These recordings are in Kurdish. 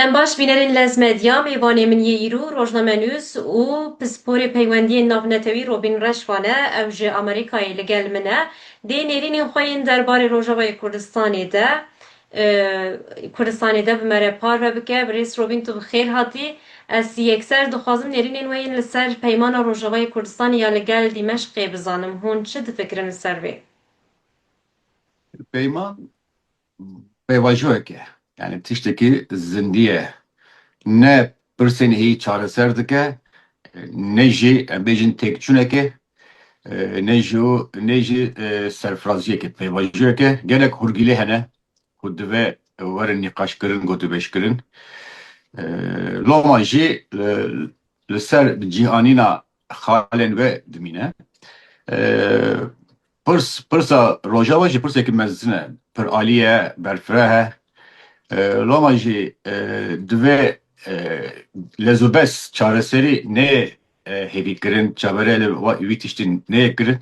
Em baş bînerên Lez Medya, mêvanê min yê îro rojnamenûs û pisporê peywendiyên navnetewî Robîn Reşvan e, ew ji Amerîkayê li gel min e, dê nêrînên xwe yên derbarê Rojavayê Kurdistanê de Kurdistanê de bi me re parve bike. Birêz Robîn tu bi xêr hatî. Ez yekser dixwazim nêrînên we yên li ser peymana Rojavayê Kurdistanê ya li gel Dîmeşqê bizanim. Hûn çi difikirin li ser vê? Peyman pêvajoyek e. Yanî tiştekî zindî ye. Ne pirsên hî çareser dike, ne jî em bêjin têkçûneke, ne jî ne jî serfiraziyeke. Pêvajoyek e. Gelek hûrgîlê hene ku divê werin nîqaşkirin, gotûbêjkirin. Loma jî li ser cîhanîna xalên we dimîne. Pirs, pirsa Rojava jî pirsekî mezin e, pir alî ye, berfireh e. Loma jî divê lezûbes çareserî neyê hêvîkirin, çaverê li wî tiştî neyê kirin.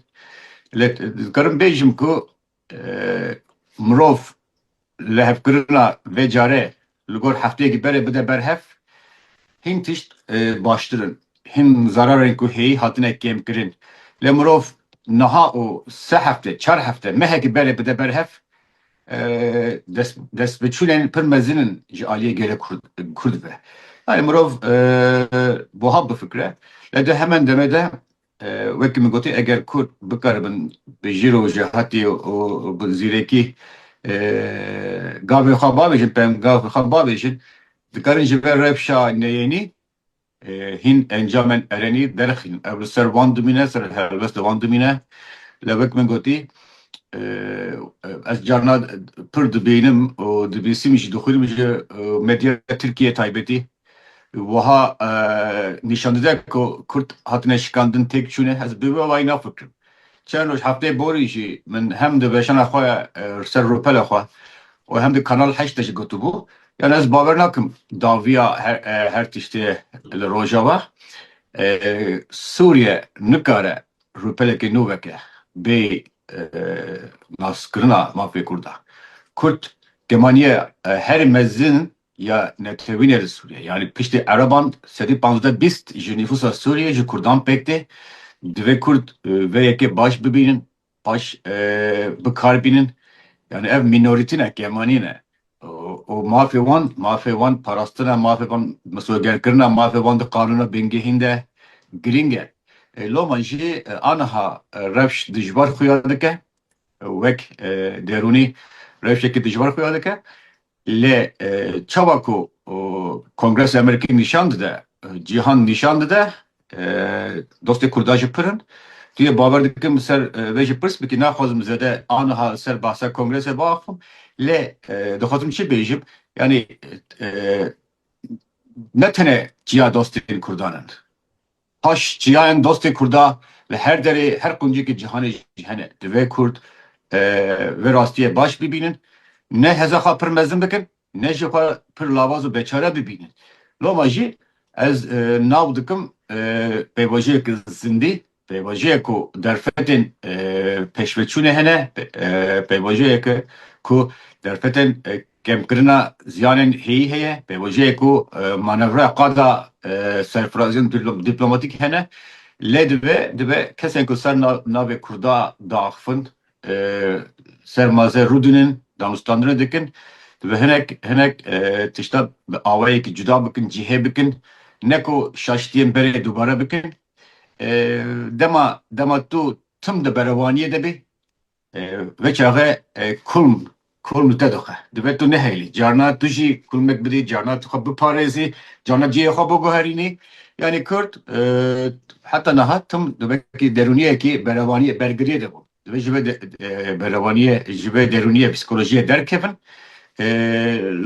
Lê dikarim bêjim ku Mirov lihevkirina vê care li gor hefteyekî berê bide ber hev, hîn tişt baştir in, hîn zerarên ku hêyî hatine kêmkirin. Lê mirov niha û sê hefte, çar hefte, mehekî berê bide ber hev, destbiçûnên pir mezin in ji aliyê gelê Kurd ve. Yanî mirov buha bifikire. Lê di heman demê de Wekî min gotî eger Kurd bikaribin bi jîr û jihatî û bi zîrekî gavên xwe bavêjin, pengavên xwe bavêjin dikarin ji ber rewşa neyênî hîn encamên erenî derxînin. Ev li ser wan dimîne, ser helwest li wan dimîne. Lê wek min gotî ez carna pir dibînim û dibîsim jî dixwînim ji medya Tirkiyeyê taybetî wiha nîşan dide ku Kurd hatine şikandin têk çûne, ez bi wê wayî nafikirim. Çend roj hefteyê borî jî min hem di weşana xwe ya li ser rûpela xwe û hem di Kanal Heşt de jî gotibû, yan ez bawer nakim daviya her tiştê li Rojava Sûriye nikare rûpelekê nû veke bê naskirina mafê Kurd a. Kurd dema niye herî mezin ya netewînê li Sûriyê yanî piştî ereban sedî panzdeh bîst ji nîfûsa Sûriyê ji kurdan pêk tê. Divê kurd vê yekê baş bibînin, baş bikar bînin. Yanî ev mînorîtî ne, kemanî ne û mafê wan, mafê wan parastina, mafê wan misogerkirina, mafê wan di qanûna bingehîn de girîng e. Loma jî aniha rewş dijwar xuya dike, wek derûnî rewşekî dijwar xuya dike. Lê çawa ku Kongres ê Amerîkî nîşan dide, cîhan nîşan dide, dostê Kurdan jî pir in. Tu yê bawer dikim li ser vê jî pirs bikî, naxwazim zêde aniha li ser behsa Kongresê biaxivim. Lê dixwazim çi bêjim, yanî ne tenê çiya dostên Kurdan in. Paş çiyayên dostê Kurda li her derê, her quncekê cîhanê jî hene. Divê Kurd vê rastiyê baş bibînin. Ne heza xwe pir mezin bikin, ne jî xwe pir lawaz û beçare bibînin. Loma jî ez nav dikim pêvajoyek zindî, pêvajoyek ku derfetên pêşveçûnê hene, pêvajoyeke ku derfetên Kêmkirina ziyanên hêyî heye, pêvajoyê ku manevra qada serfiraziyên dîplomatîk hene, lê divê divê kesên ku ser navê Kurda diaxifin ser maze rûdinin, danûstandinê dikin, divê hinek hinek tişta bi awayekî cuda bikin, cihê bikin, ne ku şaşitiyên berê dubare bikin. Dema dema tu tim di berevaniyê de bî, Ve çaxe kulm kulm li te dixe. Divê tu nehêlî. Carna tu jî kulmek bidî, carna tu xwe biparêzî, carna cihê xwe biguherînî. Yanî Kurd heta niha tim di vekî derûniyekî berevaniyê bergiriyê de bû. Divê ji vê berevaniyê, ji vê derûniyê, psîkolojiyê derkevin.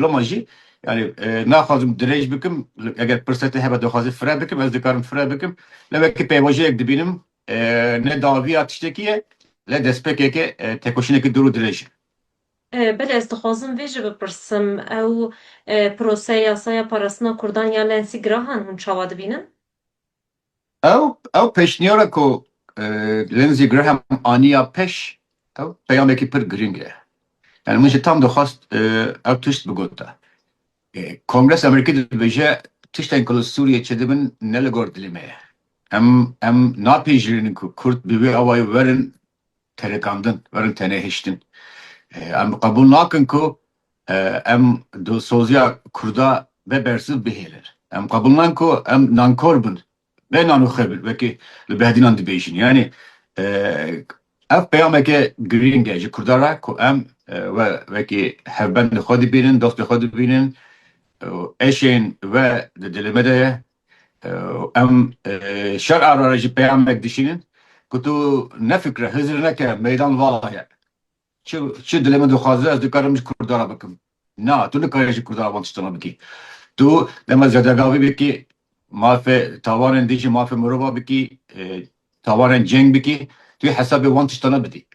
Loma jî yanî naxwazim dirêj bikim. Eger pirseta te hebe dixwazî fire bikim, ez dikarim fire bikim. Lê wekî pêvajoyek dibînim Ne daviya tiştekî ye le destpêkeke tekoşîneke dir û dirêj e. Belê ez dixwazim vê jî bipirsim, ew proseya yasaya parastina kurdan ya Nancy Graham hûn çawa dibînin? Ew ew pêşniyara ku Lindsey Graham aniya pêş ew peyamekî pir girîng e. Min jî tam dixwest ew tişt bigota. Kongresa Amerîkî dibêje, Tiştên ku li Sûriyê çêdibin ne li gor dilê me ye. Em em napejirînin ku kurd bi vê awayî werin terikandin, werin tenêhiştin. Em bi qebûl nakin ku em dilsoziya kurda be bersiv bihêlin. Em qebûl nakin ku em nankor bin Bêhna Nûxebil wekî li Behdînan dibêjin yanî ev peyameke girîng e ji Kurdan re ku em we wekî hevbendên xwe dibînin, dostên xwe dibînin û eşên we di dilê me de ye û em şer a re jî peyamek dişînin ku tu nefikire, hizir neke meydan vala ye. Çi çi dilê min dixwaze ez dikarim ji kurdan re bikim. Na, tu nikarî ji kurdan re van tiştan re bikî. Tu dema zedegavî bikî, mafê tawanên din jî mafê mirovan bikî, tawanên ceng bikî, tu yê hesabê van tiştan re bidî.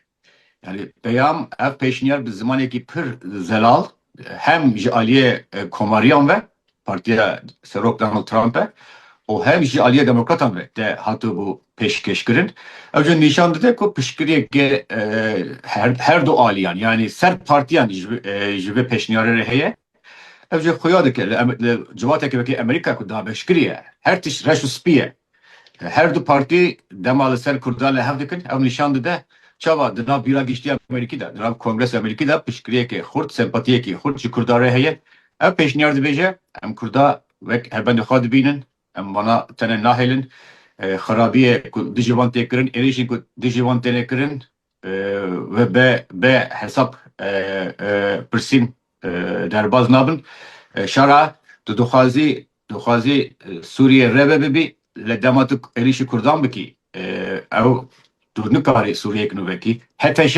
Yanî peyam ev pêşniyar bi zimanekî pir zelal hem ji aliyê komariyan ve partiya Serok Donald Trump e û hem jî aliyê demokratan ve te hatibû pêşkêşkirin. Ew jî nîşan dide ku piştgirêkê her du aliyan yanî ser partiyan ji vê pêşniyarê re heye. Ew jî xuya dike li civateke wekî Amerîka ku dabeşkirî ye her tişt reş û spî ye. Her du partî dema li ser Kurdan li hev dikin, ew nîşan dide çawa di nav bîra giştî ya Amerîkî de, di nav Kongresa Amerîkî de piştgiriyekê xurt, sempatiyekî xurt ji Kurdan re heye. Ew pêşniyar dibêje, em Kurda wek helbendê xwe dibînin, em wana tenê nahêlin, xerabiyê ku dijî wan tê kirin, êrîşên ku dijî wan têne kirin ve be be hesab pirsîn derbaz nabin. Şara tu dixwazî Dixwazî Sûriyê rêve bibî lê dema tu êrîşî kurdan bikî ew tu nikarî Sûriyeyek nû vekî. HTŞ,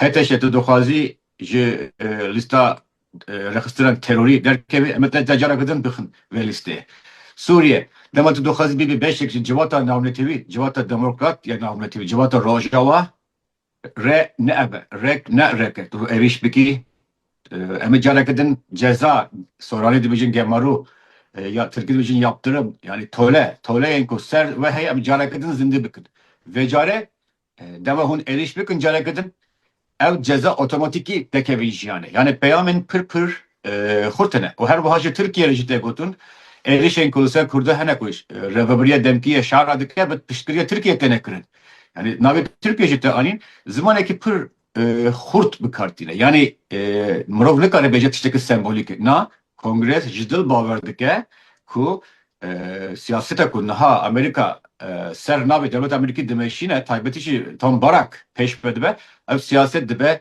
HTŞ tu dixwazî ji lîsta rêxistinan terorî derkevî em ê te careke din bixin vê lîsteyê. Sûriye, dema tu dixwazî bibî beşek ji civata navnetewî, civata demokrat ya navnetewî, civata Rojava Re ne ev e. Rek ne rek e. Tu êrîş bikî. Em ê careke din ceza, soranî dibêjin gemaro, ya tirkî dibêjin yaptırım, yanî tole, toleyên ku ser we heye em careke din zindî bikin. Vê care dema hûn êrîş bikin careke din, ew ceza otomatîkî dekevin jiyanê. Yanê peyamên pir pir xurtine û her wiha jî Tirkiye re jî tê gotin êrişên ku li ser Kurda hene ku Rêveberiya Demkî şer re dike bi piştgiriya Tirkiyeyê têne kirin. Yanî navê Tirkiye jî tê anîn zimanekî pir xurt bi kar tîne. Yanî mirov nikare bêje tiştekî sembolîk e. Na Kongres ji dil bawer dike ku siyaseta ku niha Amerîka ser navê dewleta Amerîkî dimeşîne taybetî jî tam Barak pêş ve dibe ev siyaset dibe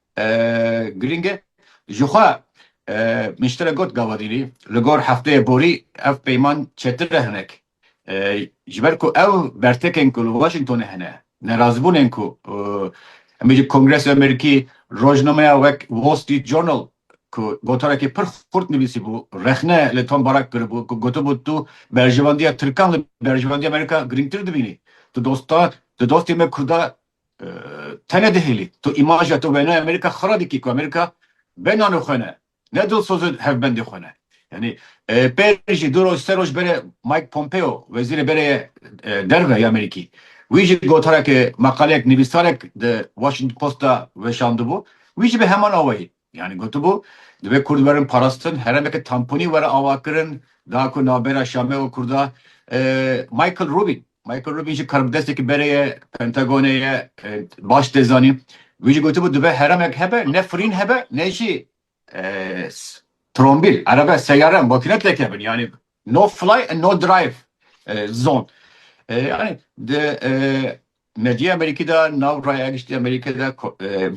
Girîng e. Jixwe min ji te re got gawadîrî li gor hefteyê borî ev peyman çetir e hinek ji ber ku ew bertekên ku li Washingtonê hene nerazîbûnên ku em bêjin Kongresê Amerîkî rojnameya wek Wall Street Journal ku gotarekî pir xurt nivîsîbû rexne li Tom Barak kiribû ku gotibû tu berjevandiya tirkan li berjevandiya Amerîka girîngtir dibînî tu dosta tu dostê me kurda Tene dihêlî. Tu îmaja tu wêneyê Amerîka xira dikî ku Amerîka bê nanê xwe ne, ne dilsoz û hevbendê xwe ne. Yanî pê jî du roj, sê roj berê Mike Pompeo, wezîrê berê yê derve yê Amerîkî. Wî jî gotarekê, maqaleyek, nivîsarek di Washington Post de weşandibû. Wî jî bi heman awayî. Yanî gotibû, divê kurd werin parastin, herêmeke tamponî were avakirin, da ku navbera Şamê û kurda Michael Rubin. Michael Rubin jî karbidestekî berê ye, Pentagonê ye, baş tê zanîn. Wî jî gotibû divê herêmek hebe, ne firîn hebe, ne jî trombîl, erebe, seyare, makîne tê kevin. Yanî no fly and no drive zone. Yanî di Medyaya Amerîkî de nav raya giştî Amerîkê de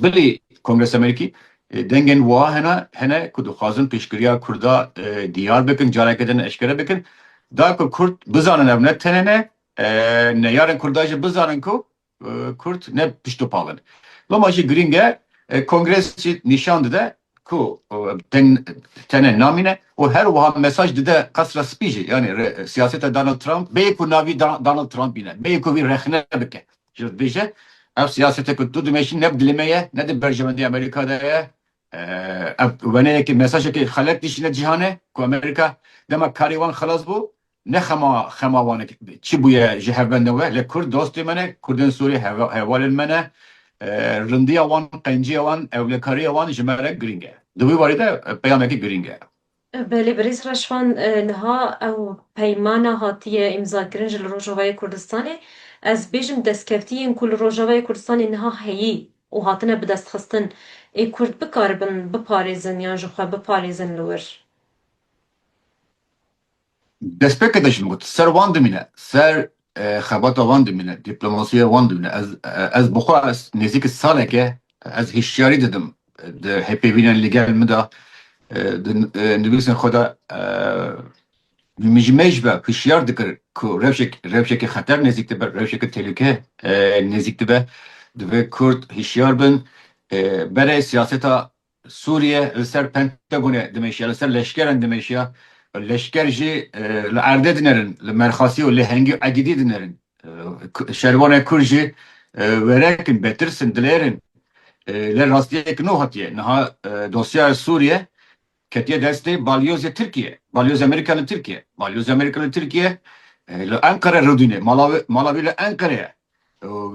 bilî Kongresa Amerîkî dengên wiha hene hene ku dixwazin pêşgiriya Kurda diyar bikin, careke din eşkere bikin da ku Kurd bizanin ev ne tenê ne neyarên Kurda jî bizanin ku Kurd ne pişt û pal in. Loma jî girîng e Kongres jî nîşan dide ku tenê namîne û her wiha mesaj dide Qesra Spî jî yanî rê siyaseta Donald Trump bêyî ku navî Donald Trump bîne, bêyî ku wî rexne bike ji dibêje ev siyasete ku tu dimeşî ne bi dilê me ye, ne di berjewendiya Amerîka de ye, ev weneyekî mesajekî xelet dişîne cîhanê ku Amerîka dema karê wan xilas bû Ne xema xema wan e çi bûye ji hev ve ne we lê kurd dostê me ne, kurdên Sûrî hevalên me ne. Rindiya wan, qenciya wan, ewlekariya wan ji me re girîng e. Di wî warî de peyamekî girîng e. Belê birêz Reşvan, niha ew peymana hatiye îmzakirin ji li Rojavayê Kurdistanê, ez bêjim destkevtiyên ku li Rojavayê Kurdistanê niha heyî û hatine bidestxistin ê kurd bikaribin biparêzin yan ji xwe biparêzin li wir. Destpêkê te jin got, ser wan dimîne, ser xebata wan dimîne, dîplomasiya wan dimîne. Ez ez bi xwe ez nêzîkî saleke ez hişyarî didim di hêpêvînên li gel min de di nivîsên xwe de min ji me ji be hişyar dikir ku rewşek rewşeke xeter nêzîk dibe, rewşeke tehlûke nêzîk dibe. Divê Kurd hişyar bin berê siyaseta Sûriye li ser Pentagonê dimeşiya, li ser leşkeran dimeşiya. Leşker jî li erdê dinerin, li Merxasî û Lêhengî Egidî dinerin. Şervanên Kurd jî werek in, betirs in, dilêr in. Lê rastiyek nû hatiye. Niha dosyaya Sûriye ketiye destê balyozê Tirkiye, balyozê Amerîka li Tirkiye. Balyozê Amerîka li Tirkiye li Enqere rûdîne. Mala wî li Enqere ye.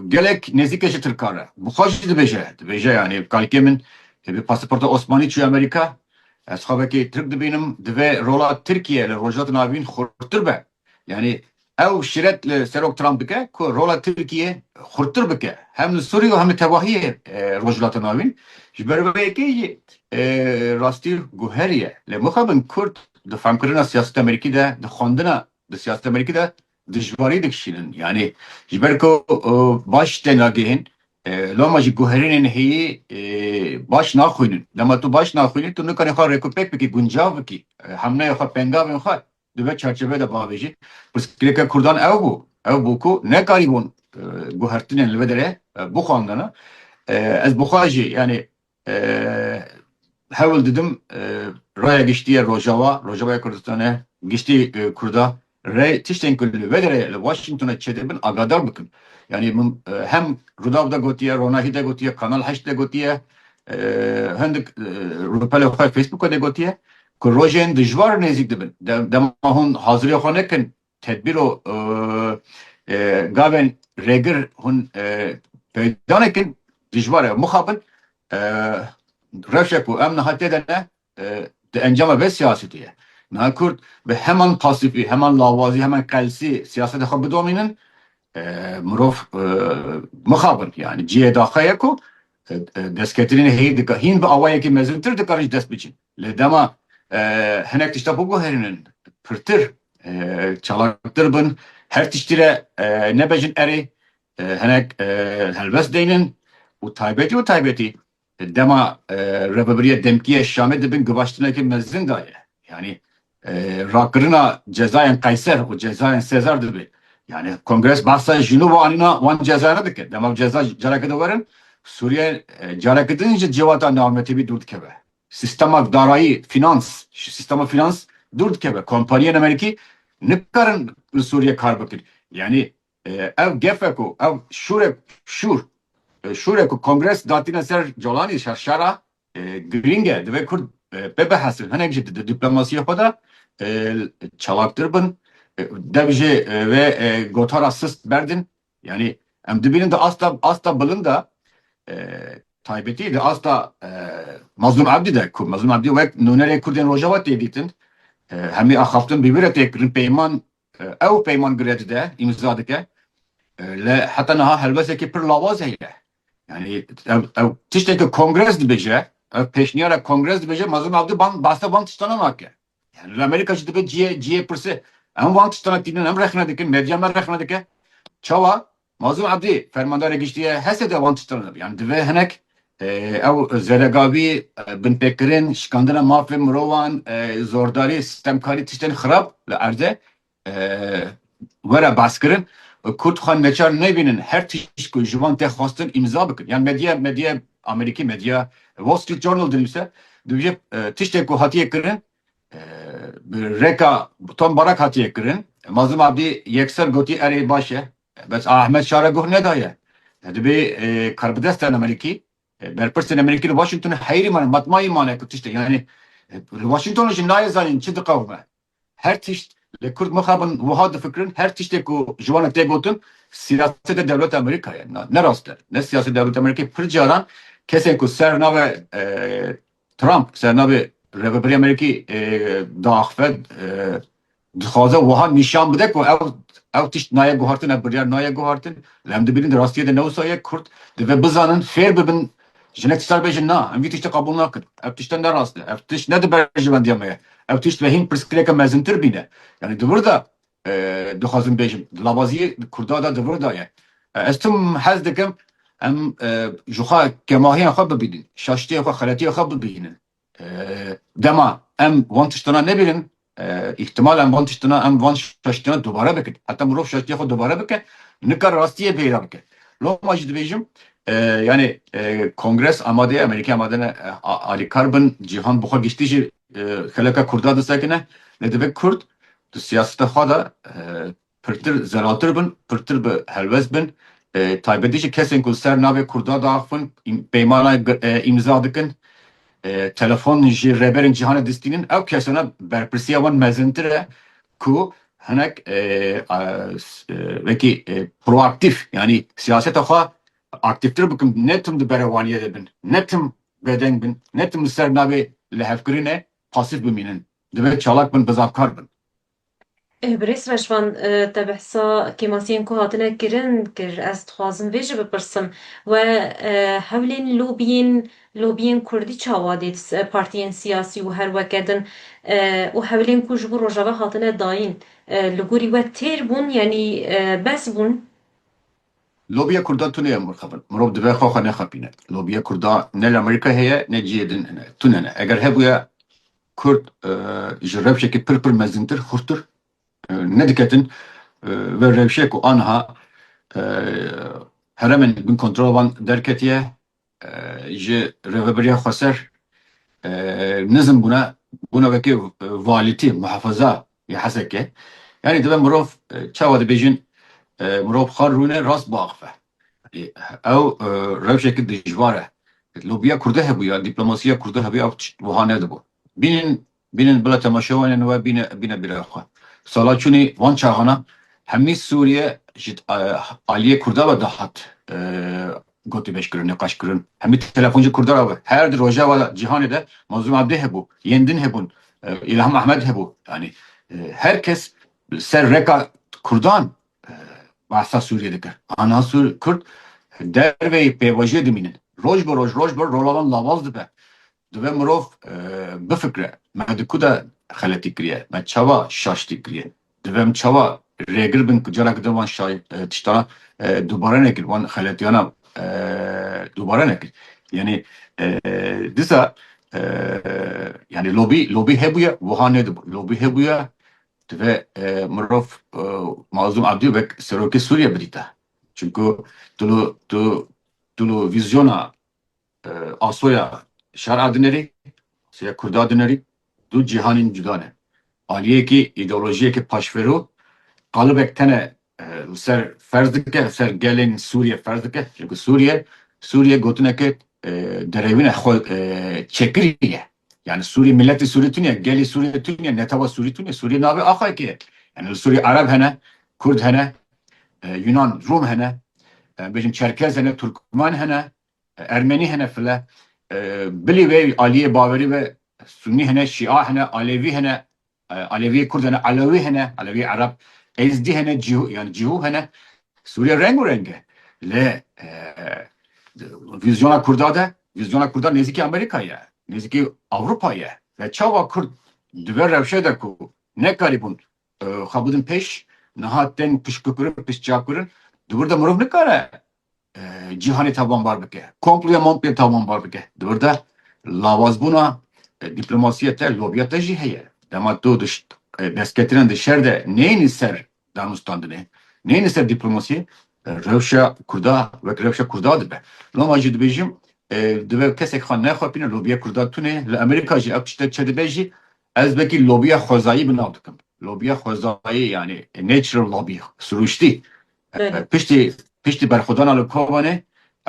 Gelek nêzîk e ji tirkan re. Bi xwe jî dibêje, dibêje yanî kalkê min bi pasaporta Osmanî çûye Amerîka. Ez xwe wekî tirk dibînim. Divê rola Tirkiye li Rojhilatên Avîn xurttir be. Yanî ew şîret li Serok Trump dike ku rola Tirkiye xurttir bike. Hem li Sûriye û hem li tevahiyê Rojhilatên Avîn. Ji ber vê yekê jî rastî guherî ye. Lê mixabin Kurd di famkirina siyaseta Amerîkî de, di xwendina di siyaseta Amerîkî de Dijwarî dikişînin yanî ji ber ku baş tên ragihîn loma ji guherînên heyî baş naxwînin. Dema tu baş naxwînî tu nikanî xwe rêkûpêk bikî, guncav bikî hemnayê xwe, pengavên xwe di vê çarçoveyê de biavêjî. Pirsgirêka Kurdan ew bû, ew bû ku nekarîbûn guhertinên li vê derê bixwandin. Ez bi xwe jî yanî Hewl didim raya giştî ya Rojawa, Rojavaya Kurdistane, giştî Kurda re tiştên ku li vir e li Washingtonê çêdibin agadar bikin. Yanî min hem Rudaw de gotiye, Ronahî de gotiye, Kanal Heşt de gotiye, hindik rûpelê xwe Facebooka de gotiye ku rojên dijwar nêzîk dibin. Dema hûn hazirê xwe nekin Tedbîro gavên rêgir hûn peyda nekin dijwar e mixabin. Rewşa ku em niha têde ne di encama vê siyasetê ye. Niha Kurd bi heman pasîfî, heman lawazî, heman qelsî siyaseta xwe bidomînin mirov mixabin. Yanî cihê daxê ye ku destketinên heyî dika hîn bi awayekî mezintir dikarin jî dest biçin. Lê dema hinek tişta biguherînin pirtir, çalaktir bin, her tiştî re nebejin erê, hinek helbest deynin û taybetî û taybetî dema Rêveberiya Demkî ya Şamê di bin givaştineke mezin de ye. Yanî rakirina cezayên Qeyser û cezayên Sezar dibe. Yanî Kongres behsa ji nû ve anîna wan cezayane dike. Dema bi ceza careke din werin, Sûriye careke din ji civata navmetîbî dûr dikeve. Sîstema darayî, fînans, ji sîstema fînans dûr dikeve. Kompaniyên Amerîkî nikarin li Sûriyê kar bikin. Yanî ev gefe ku ev şûrek şûr şûrek ku Kongres datîne ser Colanî ser şera girîng e. Divê Kurd pê bihesin. Hinek jî di dîplomasiyê xwe de çalaktir bin. Dev jê vê gotara sist berdin. Yanî em dibînin di asta asta bilind de taybetî di asta Mazlûm Ebdî de ku Mazlûm Ebdî wek nûnerê Kurdên Rojava tê dîtin hemî axaftin bi wî re tê kirin peyman ew peyman bi re dide îmza dike li heta niha helwesekî pir lawaz heye yanî ew ew tiştekî kongres dibêje ew pêşniyara kongres dibêje Mazlûm Ebdî ban behsa van tiştanan nake Yani li Amerîka jî dibe ciyê ciyê pirse em wan tiştan e tînin em rexne dikin medya me rexne dike çawa Mazlum Abdî fermandarê giştî ye hese de wan tiştan e yani dibe hinek ew zeregavî binpêkirin şikandina mafê mirovan zordarî stemkarî tiştên xirab li erde were baskirin û Kurd xwe neçar nebînin her tişt ku ji wan tê xwestin îmza bikin. Yan medya medya Amerîkî medya Wall Street Journal dinivîse dibêje tiştê ku hatiye kirin bi rêka Tom Barak hatiye kirin. Mazlum Abdî yekser gotî erê baş e bes Ahmed Şara guh nedaye. Dibê karbidestên Amerîkî berpirsên Amerîkî li Washington heyrî mane matmayî mane ku tiştê yanî li Washington jî nayê zanîn çi diqewime. Her tişt lê kurd mixabin wiha difikirin, her tiştê ku ji wan re tê gotin siyaseta dewleta Amerîka ye. Na ne rast e. Ne siyaseta dewleta Amerîkayê pir caran kesên ku ser navê Trump, ser navê Rêveberiya Amerîkî diaxive, dixwaze wiha nîşan bide ku ew ew tişt nayê guhartin, ev biryar nayê guhartin. Lê em dibînin di rastiyê de ne wisa ye. Kurd divê bizanin, fêr bibin Jinek tiştan bêjin na, em vî tiştê qebûl nakin. Ev tişte ne rast e. Ev tişt ne di berjewendiya me ye. Ew tişt vehîn pirsgirêke mezintir bîne. Yanî di vir de dixwazim bêjim, di lavaziyê kurda de di vir de ye. Ez tim hez dikim em jixwe kemahiyan xwe bibînin, şaşitiyên xwe, xeletiyên xwe bibînin. Dema em van tiştana nebînin, îhtimal em van tiştana, em van şaştiyana dubare bikin. Heta mirov şaştiya xwe dubare bike, nikare rastiyê bêhira bike. Loma jî dibêjim, yanê Kongres amade ye, Amerîka amade ne alîkar bin, cîhan bi xwe giştî jî xeleka Kurda disekine. Lê divê Kurd di siyaseta xwe de pirtir zelatir bin, pirtir bi helwest bin, taybetî jî kesên ku li ser navê Kurda diaxivin peymanayê îmza dikin, telefon ji rêberên cîhanê distînin, ew kesane berpirsiya wan mezintir e ku hinek wekî proaktîf yanî siyaseta xwe aktîftir bikin, ne tim di berevaniyê de bin, ne tim bêdeng bin, ne tim li ser navê lihevkirinê pasîf bimînin, divê çalak bin, bizavkar bin. Birêz Reşvan, te behsa kêmasiyên ku hatine kirin kir. Ez dixwazim vê jî bipirsim, We hewlên lobiyên lobiyên kurdî çawa dît, partiyên siyasî û her weke din û hewlên ku ji bo Rojava hatine dayîn li gorî we têr bûn yanî bes bûn? Lobiya kurda tune ye Murxebin. Mirov divê xwe xwe nexapîne. Lobiya kurda ne li Amerîkayê heye ne cihê din hene. Tune ne. Eger hebûye Kurd ji rewşekê pir pir mezintir, xurttir nediketin ver rewşê ku aniha heremên li bin kontrola wan derketiye ji rêveberiya xweser nizm bûne, bûne wekî valîtî, muhefeza yê Hesekê. Yanî dibe mirov çawa dibêjin mirov xwe rûne rast biaxive. Ew rewşeke dijwar e. Lobiya Kurde hebûya, diplomasiya Kurde hebûya ew tişt wiha nedibû. Bînin, bînin bila temaşewanên we bîne, bîne bîra xwe. Sala çûnê van çaxana hemî Sûriye ji aliyê Kurda ve dihat gotûbêjkirin, niqaşkirin. Hemî telefon ji Kurda re ve. Her di rojava de cîhanê de Mazlûm Abdî hebû, yên din hebûn, Îlham Ahmed hebû. Yanî her kes li ser reka Kurdan bahsa Sûriyê dikir. Ana Sûr, Kurd derveyî pêvajoyê dimînin. Roj bi roj, roj bi roj rojavan lawaz dibe. Dibe mirov bifikire, me di ku de xeletî kiriye, me çawa şaştî kiriye, dibe em çawa rêgir bin ku careke din wan tiştana dubare nekin, wan xeletiyana dubare nekin. Yanî disa yanî lobî, lobî hebûye wiha nedibû. Lobî hebûye Divê mirov Mazlûm Abdî wek serokê Sûriyê bidîte. Çimku tu li vîzyona asoya şer'a dinêrî, asoya kurda dinêrî, du cîhanên cuda ne. Aliyekî îdeolojiyeke paşfêro, qalibek tene li ser ferz dike, li ser gelên Sûriyê ferz dike. Çimkî Sûriye, Sûriye gotineke derewîna xwe çekirî ye. Yanî Sûrî miletî Sûrî tune ye, gelî Sûrî tune ye, netewa Sûrî tune ye. Sûrî navê axayekê ye. Yanî li Sûrî Ereb hene, Kurd hene, Yunan, Rûm hene, em bêjin Çerkez hene, Turkmen hene, Ermenî hene file. Bilî vê aliyê bawerî ve Sûnî hene, Şîa hene, Alevî hene, Aleviyê Kurd hene, Elewî hene, Elewiyê Ereb, Êzdî hene, Cîhû yanî Cîhû hene. Sûriye reng û reng e. Lê di vîzyona Kurda de, vîzyona Kurda nêzîkî Amerîka ye, nêzîkî Ewropa ye. Lê çawa Kurd di vê rewşê de ku nekarîbûn xwe bidin pêş, niha tên piştgirkirin, piştçavkirin, di wir de mirov nikare cîhanê tawanbar bike, komploya mompê tawanbar bike. Di wir de lawazbûna dîplomasîya te, lobiya te jî heye. Dema tu di destketirên di şer de neyênî ser danûstandinê, neyênî ser dîplomasîyê, rewşa Kurda wek rewşa Kurda dibe. Loma jî dibêjim divê kesek xwe nexwepîne lobiya Kurda tune. Li Amerîka jî ev tişte çi dibe jî ez wekî lobiya xwezayî bi nav dikim. Lobiya xwezayî yanî natural lobby, sirûştî Piştî berxwedana li Kobanê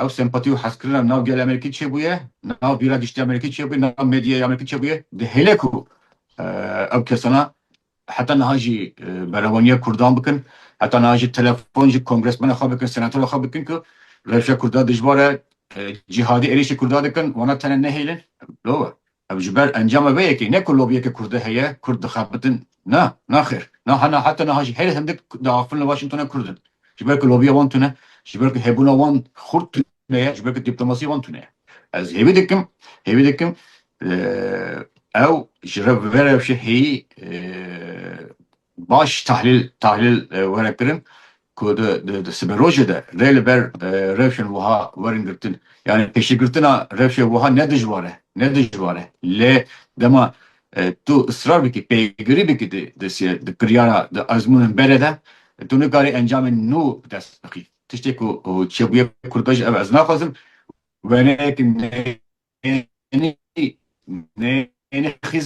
ew sempatî û hezkirina nav gelê Amerîkî çêbûye, nav bîra giştî Amerîkî çêbûye, nav medyaya Amerîkî çêbûye. Di hêle ku ew kesana heta niha jî berevaniya kurdan bikin, heta niha jî telefon ji kongresmena xwe bikin, senatera xwe bikin ku rewşa kurda dijwar e, cîhadî êrîşî kurda dikin, wana tene nehêlin. Lova Ev ji ber encama vê yekê ne ku lobiyeke kurdî heye kurd dixebitin. Na, naxêr. Niha na heta niha jî herî hindik di axifin li Washingtonê kurd in. Ji ber ku lobiya wan tune, ji ber ku hêbûna wan xurt tune ye, ji ber ku dîplomasiya wan tune ye. Ez hêvî dikim, hêvî dikim ew ji revbera rewşê hêyî Baş tahlîl tahlîl were kirin ku di di siberojê de rê li ber rewşên wiha werin girtin. Yanî pêşîgirtina rewşê wiha ne dijwar e, ne dijwar e. Lê dema tu israr bikî, pêgirî bikî di di di kiryara, di ezmûnên berê de tu nikarî encamên nû bi dest bixî. Tiştê ku çêbûye Kurdbej ev ez naxwazim wêneyekî nê. Neyê neyê xîz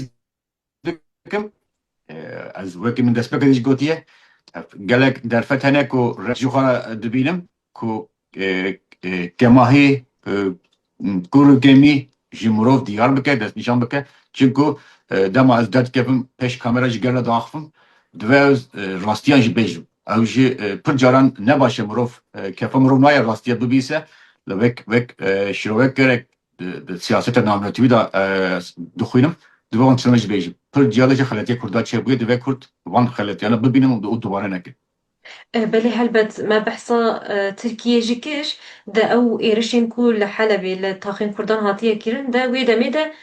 dikim ez wekî min destpêkê jî gotiye gelek derfet hene ku reş jî xwe re dibînim ku kemahî kûr û kêmî ji mirov diyar bike destnîşan bike çimku dema ez derdikevim pêş kamera ji gel re diaxivim divê ez rastiyan jî bêjim. Ew jî pir caran ne baş e mirov kefa mirov nayê rastiya bibîse li wek wek şirowek gerek di siyaseta naminatîwî de dixwînim divê wan tiştane jî bêjim. Pir ciya de jî xeletiyê kurd de çêbûye divê kurd van xeletiyanan bibînin û dubare nekin. Belê helbet me behsa Tirkiyê jî kir de ew êrişên ku li Helebê li taxên kurdan hatiye kirin de wê demê de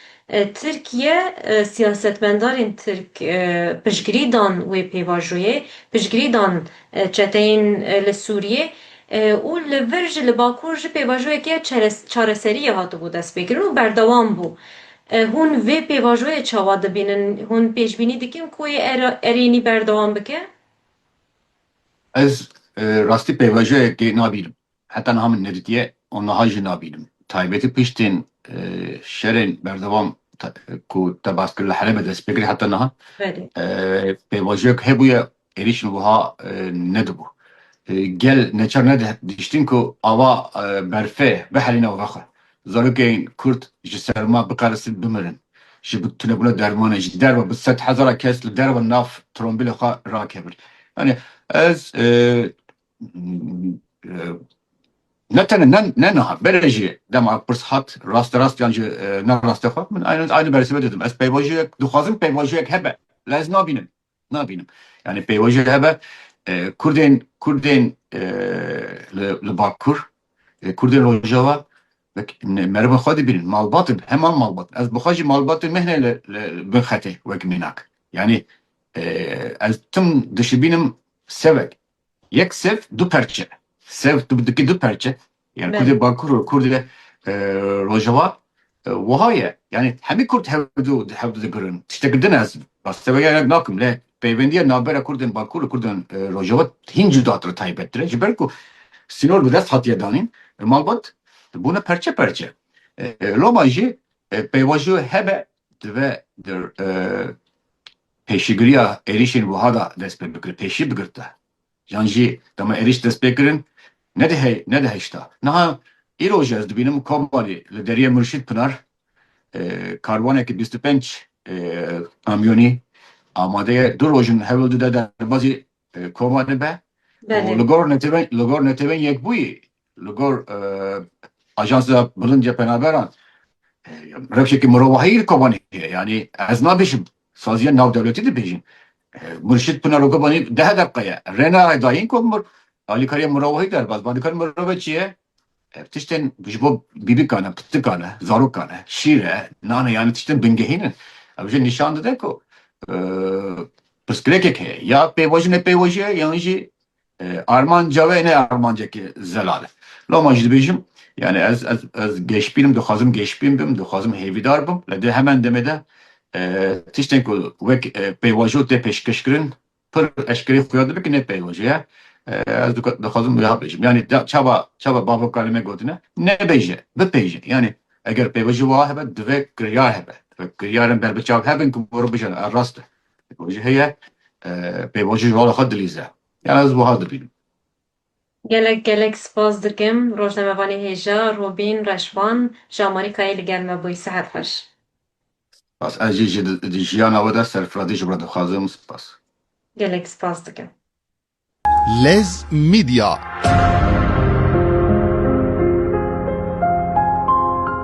Tirkiye, siyasetmendarên tirk piştgirî dan wê pêvajoyê, piştgirî dan çeteyên li Sûriyê û li vir jî li Bakur jî pêvajoyeke çareseriyê hatibû destpêkirin û berdewam bû. Hûn vê pêvajoyê çawa dibînin? Hûn pêşbînî dikin ku wê erênî berdewam bike? Ez rastî pêvajoyekê nabînim. Heta niha min nedîtiye û niha jî nabînim. Taybetî piştên şerên berdewam ku te bas kir li Helebê dest pê kir heta niha pêvajoyek hebûye êrîşên wiha nedibû. Gel neçar nedihiştin ku ava berfê bihelîne û vexe. Zarokên Kurd ji serma biqeresin bimirin. Ji bi tunebûna dermanê ji derve bi sed hezara kes li derve nav trombîlê xwe rakevin. Yanî ez ne tene ne ne niha bere jî dema pirs hat raste rast yan ji ne raste xwe min aynı aynı bersebe dedim ez peyvajiyek dixwazim peyvajiyek hebe la ez nabînim nabînim yani peyvajiyek hebe Kurdên Kurdên li Bakur Kurdên Rojava merivên xwe dibînin malbat heman malbat ez bi xwe jî malbat mehne li bin xetê wek mînak yani ez tim dişibînim sevek Yek sev du perçe. Sev tu dikî du perçe. Yani Belê. Kurdê Bakur û Kurdê e, Rojava e, wiha ye. Yani hemî Kurd hevdu hevdu digirin. Tiştekî din ez rasteveriya ne nakim lê peyvendiya navbera Kurdên Bakur û Kurdên e, Rojava hîn cudatir taybettir e. Ji ber ku sînor bi dest hatiye danîn e, malbat bûne perçe perçe. E, Loma jî e, peyvajo hebe dive dir e, Pêşîgiriya êrîşên wiha da dest pê bikir, pêşî bigirte. Yan jî dema êrîş dest pê kirin nediheyşta. Niha îro jî ez dibînim Komarê li deriyê Murşîd Pinar karwanekî bîst û pênc kamyonî amade ye. Du roj in hewl dide derbazî Koma dibe û li gor netewên li gor netewên yekbûyî li gor Ajansa Bilind ya Penaberan rewşeke mirovahiyî li Kobanê heye. Yanî ez nabêjim saziya navdewletî dibêjin. Murşid Pinar Kobanî deh deqe ye. Rêna Edayîn ku alîkariya mirovahî derbas be. Alîkariya mirovahî çi ye? Ev tiştên ji bo bîbikan e, pirtikan e, zarokan e, şîr e, nan e yanî tiştên bingehîn in. Ew jî nîşan dide ku pirsgirêkek heye. Ya pêvaji ne pêvaji ye yan jî armanca we ne armancekî zelal e. Loma min jî dibêjim yanî ez ez ez geşbîn im, dixwazim geşbîn bim, dixwazim hêvîdar bim. Lê di hemen demê de tiştên ku wek pêvajo tê pêşkêşkirin Pir eşkerî xuya dibe ku ne peyvajo ye. Ez dixwazim wiha bêjim. Yanî çawa çawa bavokar li me gotine nebêje, bipêje. Yanî eger peyvajo wiha hebe divê kiryar hebe. Divê kiryarên berbiçav hebin ku were bijîne ev rast e. Peyvajo heye, peyvajo ji vala xwe dilîze. Yan ez wiha dibînim. Gelek gelek spas dikim rojnamevanê hêja Robîn Reşvan ji Amarîkayê li gel me bûyî. Sihet xweş. Spas. Ez jî ji di jiyana we de serfirazî ji we dixwazim. Spas. Gelek spas dikim. Lez Media.